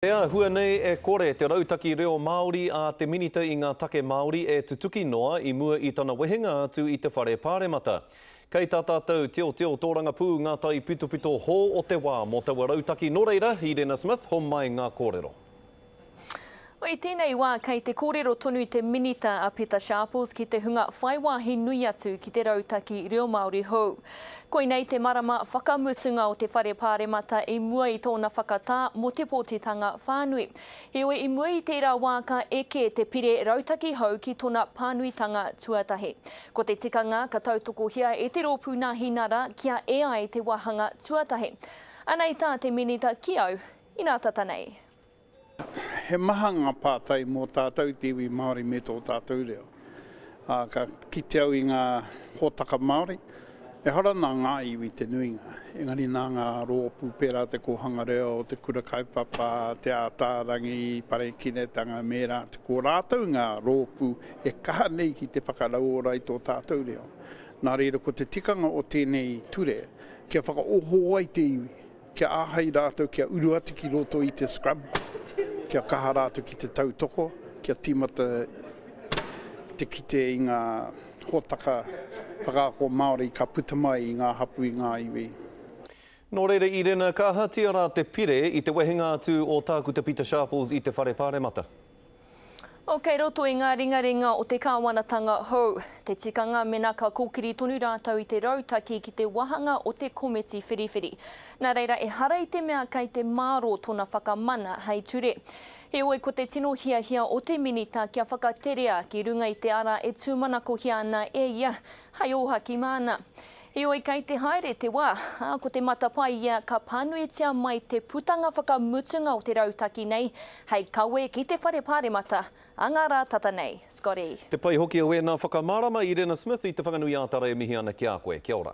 He āhua nei e kore te rautaki reo Māori a te Minita i ngā Take Māori e tutuki noa i mua i tana wehenga atu i te Whare Pāremata. Kei tā tātou tiotio tōrangapū ngā taipitopito hō o te wā mō taua rautaki nō reira, Irena Smith, homai ngā kōrero. I tēnei wā kei te kōrero tonu te Minita a Pita Sharples ki te hunga whai wāhi nui atu ki te rautaki reo Māori hou. Koinei te marama whakamutunga o te Whare Pāremata i mua i tōna whakatā mō te pōtitanga whānui. Heoi, i mua i tērā wā ka eke te pire rautaki hou ki tona pānuitanga tuatahi. Ko te tikanga ka tautokohia e te Rōpū Nāhinara kia e ai te wāhanga tuatahi. Anei tā te Minita ki au, inā tata nei. He maha ngā pātai mō tātou te iwi Māori me tō tātou reo. Ā, ka kite au i ngā hōtaka Māori, ehara nā ngā iwi te nuinga, engari nā ngā rōpū pērā Te Kōhanga Reo, Te Kura Kaupapa, Te Ātaarangi, Parekiretanga me ērā atu. Ko rātou ngā rōpū e kaha nei ki te whakarauora i tō tātou reo. Nā reira ko te tikanga o tēnei ture kia whakaoho ai te iwi. Kia āhei rātou kia uru atu ki roto i te scrum, kia kaha rātou ki te tautoko, kia tīmata te kite i ngā hōtaka whakaako Māori ka puta mai i ngā hapū, i ngā iwi. Nō reira i rena, ka ahatia rā te pire i te wehenga atu o Tākuta Pita Sharples i te Whare Pāremata? Oh, kei roto i ngā ringaringa o te kāwanatanga hou, te tikanga mena ka kōkiri tonu rātou i te rautaki ki te wāhanga o te komiti whiriwhiri. Nā reira, ehara i te mea kei te mārō tōna whakamana hei ture. Heoi, ko te tino hiahia o te Minita kia whakaterea ki runga i te ara e tūmanakohia ana e ia hei ōhaki māna. Heoi kei te haere te wā, ā, ko te matapaia ka pānuitia mai te putanga whakamutunga o te rautaki nei hei kawe ki te Whare Pāremata a ngā rā tata nei. Scotty. Te pai hoki o ēnā whakamārama i Rena Smith i Te Whanganui-ā-Tara e mihi ana ki a koe. Kia ora.